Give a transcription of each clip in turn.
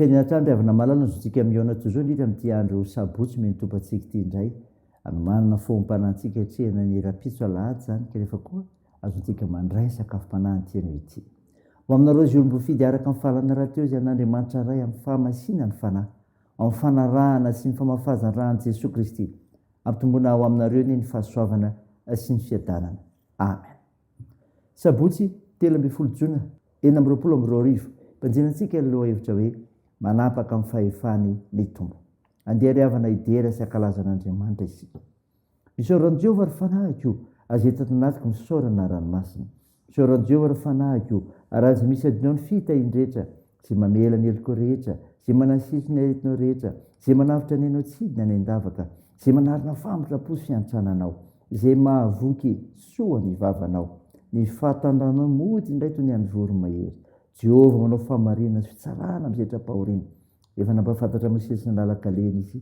Fehiny hatrany ry havana malala ny zontsika mihaona toy izao indrindra amin'ity andro sabotsy mionim-tompantsika ity indray. Hanomanana foham-panantsika hiatrehana ny rahampitso alahady izany ka nefa koa Azontsika mandray ny sakafom-panahy anty anio ity. Ho aminareo izay olom-boafidy araka ny fahalalana rahateo izay an'Andriamanitra Ray amin'ny fahamasina ny fanahy, ao amin'ny fanarahana sy ny famafazan-ran'i Jesoa Kristy. Ampitomboina ho aminareo anie ny fahasoavana sy ny fiadanana. Amen. Sabotsy telo ambin'ny folo jona enina amby roapolo amby roa arivo, ibanjina antsika ny lohahevitra hoe Manapaka amin'ny fahefany ny Tompo. Andeha ry havana hidera sy hankalaza an'Andriamanitra isika. Isaoro an'i Jehovah, ry fanahiko o, aza eto anatiko misaorana ny ranomasina. Isaoro an'i Jehovah, ry fanahiko o, ary aza misy adinao ny fitahian-drehetra, izay mamela ny helokao rehetra, izay manasiso ny aretinao rehetra, izay manavotra ny ainao tsidina any an-davaka, izay manarina famotra-po sy an-trananao, izay mahavoky soa ny vavanao. Ny fahatandranao mody indray toy ny an'ny voromahery. Jehovah manao fahamarinana sy fitsarana amin'ny setra-pahoriana. Efa nampahafantatra an'i Mosesy ny lalan-kaleny izy,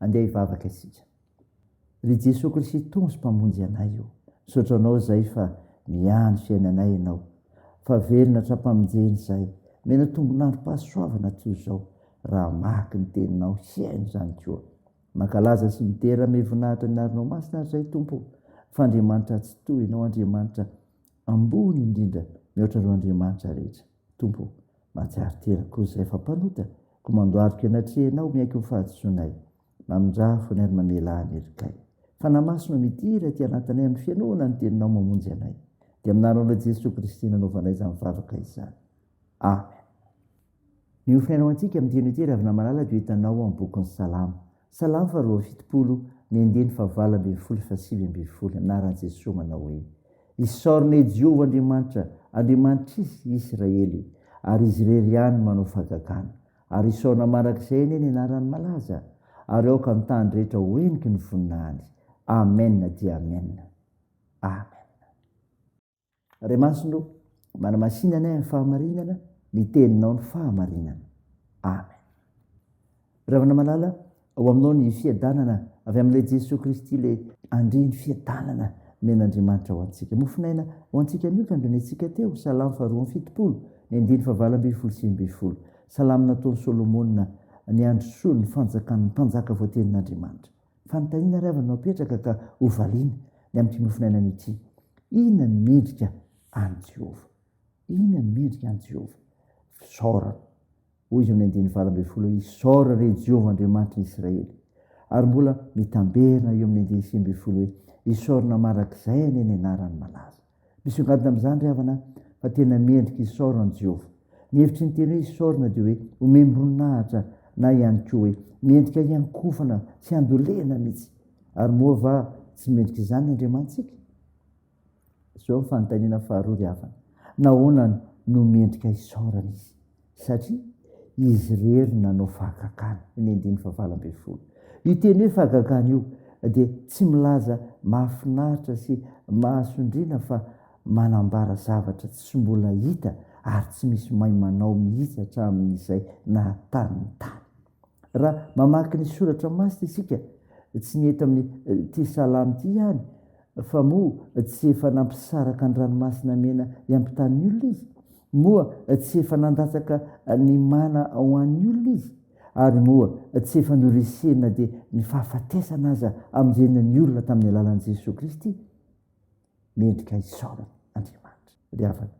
Andeha hivavaka isika. Ry Jesoa Krisito sy Mpamonjy anay ô, misaotra Anao izay fa mihahy ny fiainanay Ianao, fa velona hatrampamonjeny izay. Omena tombon'androm-pahasoavana toy izao raha hamaky ny Teninao, hihaino izany koa. Mankalaza sy midera amy voninahitra ny arinao masina ary izay Tompo ô, fa Andriamanitra Atsitoha Ianao Andriamanitra ambony indrindra mihoatra ireo Andriamanitra rehetra Tompo ô, mahatsiaro tena koa izay fa mpanota koa mandohalika eny atrehinao miaiky ny fahadisoanay, mamindraha fony ary mamela ahy ny erikay, Fanahy Masina ô midira aty anatinay amy fihainoana ny teninao mamonjy anay, dia amy naranao Jesoa Kristy nanaovanay izany vavaka izany. Amen. Ny ho fihaino antsika amin'ny teny ity Ravinamalala dia ho hitanao ao amin'ny bokin'ny Salamo. Salamo faha roa amby fitopolo, ny andiany faha valo ambin'ny folo sy faha sivy ambin'ny folo, anaran'i Jesoa manao hoe, Isaorana i Jehovah Andriamanitra, Andriamanitr'isy i Israely, ary izy irery ihany no manao fahagagana. Ary isaorana mandrakizay anie ny anarany malaza, ary aoka amin'ny tany rehetra ho heniky ny voninahiny. Amen dia Amen. Amen. Andria masina o, manamasina anay amin'ny fahamarinana, ny teninao ny fahamarinana. Amen. Ravana malala, ao aminao ny fiadanana avy amin'ilay Jesoa Kristy ilay Andria ny fiadanana men'Andriamanitra ho antsika. Mofonaina ho antsika anio ka andreneantsika teo, Salamo faharoa amby fitopolo, ny andiny fahavalo ambin'ny folo sy ambin'ny folo. Salamo nataon'i Solomona, ny androsoan'ny fanjakan'ny mpanjaka voatenin'Andriamanitra. Fanontaniana ary havana no apetraka ka hovaliana ny amin'ity mofonainana ity, Inona ny mendrika an'i Jehovah? Inona ny mendrika an'i Jehovah? Fisaorana. Hoy izy amin'ny andininy valo ambin'ny folo hoe, Isaora re Jehovah Andriamanitry ny Isiraely. Ary mbola mitamberina eo amin'ny andininy sivy ambin'ny folo hoe, Isaorana mandrakizay anie ny anarany malaza. Misongadina amin'izany ry havana fa tena mendrika hisaorana an'i Jehovah. Ny hevitry ny teny hoe hisaorana dia hoe homem-boninahitra na ihany koa hoe mendrika hiankofana sy handolena mihitsy. Ary moa va tsy mendrika izany ny Andriamanitsika? Izao ny fanontaniana faharoa ry havana, Nahoana no mendrika hisaorana izy? satria izy irery no nanao fahagagana, ny andininy fahavalo ambin'ny folo. Io teny hoe fahagagana io dia tsy milaza mahafinaritra sy mahasondriana fa manambara zavatra tsy mbola hita ary tsy misy mahay manao mihitsy hatramin'izay naha-tany ny tany. Raha mamaky ny soratra masina isika, tsy ny eto amin'ity salamo ity ihany, fa moa tsy efa nampisaraka ny ranomasina mena hiampitan'ny olona izy? Moa tsy efa nandatsaka ny mana ho an'ny olona izy? Ary moa tsy efa noresena dia ny fahafatesana aza amonjena ny olona tamin'ny alalan'i Jesoa Kristy? Mendrika hisaorana Andriamanitra ry havana.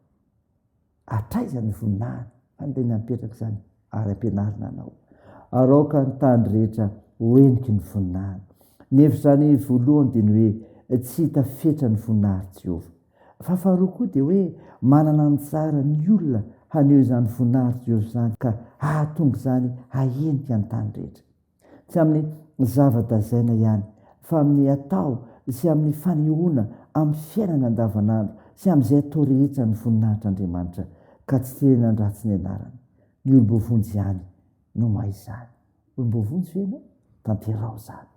Hatraiza ny voninahiny? Handeha ny hampietrak' izany ary ampianarina anao. Araoka ny tany rehetra ho heniky ny voninahiny. Ny hevitr' izany voalohany dia ny hoe tsy hita fetra ny voninahitr' Jehovah. Fa faharoa koa dia hoe manana anjara ny olona haneho izany voninahitr' Jehovah izany ka hahatonga izany hahenika ny tany rehetra. tsy amin'ny zava-dazaina ihany fa amin'ny atao sy amin'ny fanehoana amin'ny fiainana andavanandro sy amin'izay atao rehetra ny voninahitr'Andriamanitra ka tsy tena handratsy ny anarany. Ny olom-boavonjy ihany no mahay izany. Olom-boavonjy ve ianao? Tanteraho izany.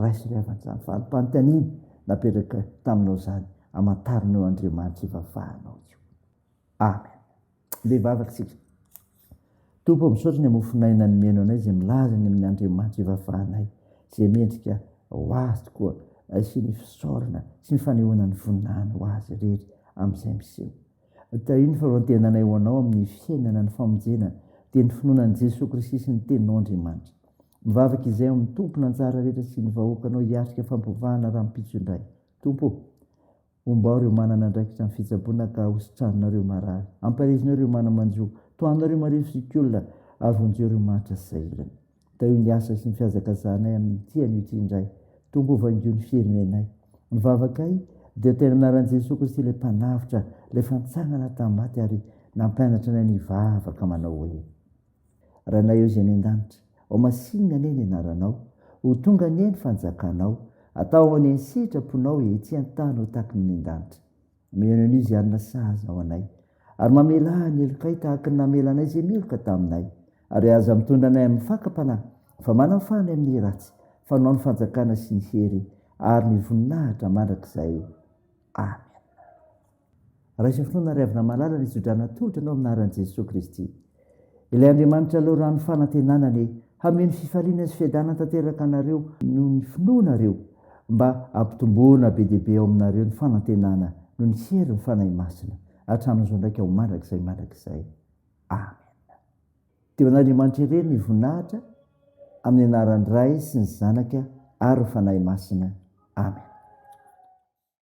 Raiso ry havana izany fari-panontaniana napetraka taminao izany, amantaranao Andriamanitra ivavahanao io. Amen. Be vavaka isika. Tompo, misaotra ny mofon'aina nomeno anay izay milaza ny amin'ny Andriamanitra ivafahanay, izay mendrika ho azy tokoa sy ny fisaorana sy ny fanehoana ny voninahiny ho azy irery amin'izay miseho. Tahio ny faharoan-tenanay ho anao amin'ny fiainana ny famonjena dia ny finoana an'i Jesoa Kristy sy ny Teninao Andriamanitra. Mivavaka izay ao amin'ny Tompon'anjara rehetra sy ny vahoakanao hiatrika fampiovana rahampitso indray. Tompo o! Ombao ireo manana andraikitra amin'ny fitsaboana ka hositranina ireo marary. Ampahezinao ireo mana-manjo. Tohanao ireo marivo sy kiolona ary vonjeo ireo mahantra sy sahirana. Tahio ny asa sy ny fihazakazahanay amin'ny ity anio ity indray. Tonga ho vangio ny firenenay. Ny vavakay dia ho tena anaran'i Jesoa Kristy ilay Mpanavotra, ilay fantsangana tamin'ny maty ary nampianatra anay ny hivavaka manao hoe. Ranay Ô Zay any an-danitra Ô masinina anie ny anaranao Ho tonga anie ny fanjakanao Atao anie ny sitraponao Etsy an-tany ho tahaky ny any an-danitra Mihaino an'io izay hanana sazy ho anay Ary mamelà ny helokay Tahaky ny namela anay izay meloka taminay Ary aza mitondra anay amin'ny fakam-panahy Fa manafaha ny amin'ny ratsy Fa anao ny fanjakana sy ny hery Ary ny voninahitra mandrakizay Amen. Raiso finoana ry havana malala ny tso-drano atolotra anao amin'ny anaran'i Jesoa Kristy. Ilay Andriamanitra lalao rano fanantenana anie hameno fifaliana sy fiadanana tanteraka anareo noho ny finoanareo mba hampitomboana be dia be ao aminareo ny fanantenana noho ny herin'ny Fanahy Masina hatramin'izao ndraika ho mandrakizay mandrakizay. Amen. Dia ho an'Andriamanitra irery ny voninahitra amin'ny anaran'ny Ray sy ny Zanaka ary ny Fanahy Masina. Amen.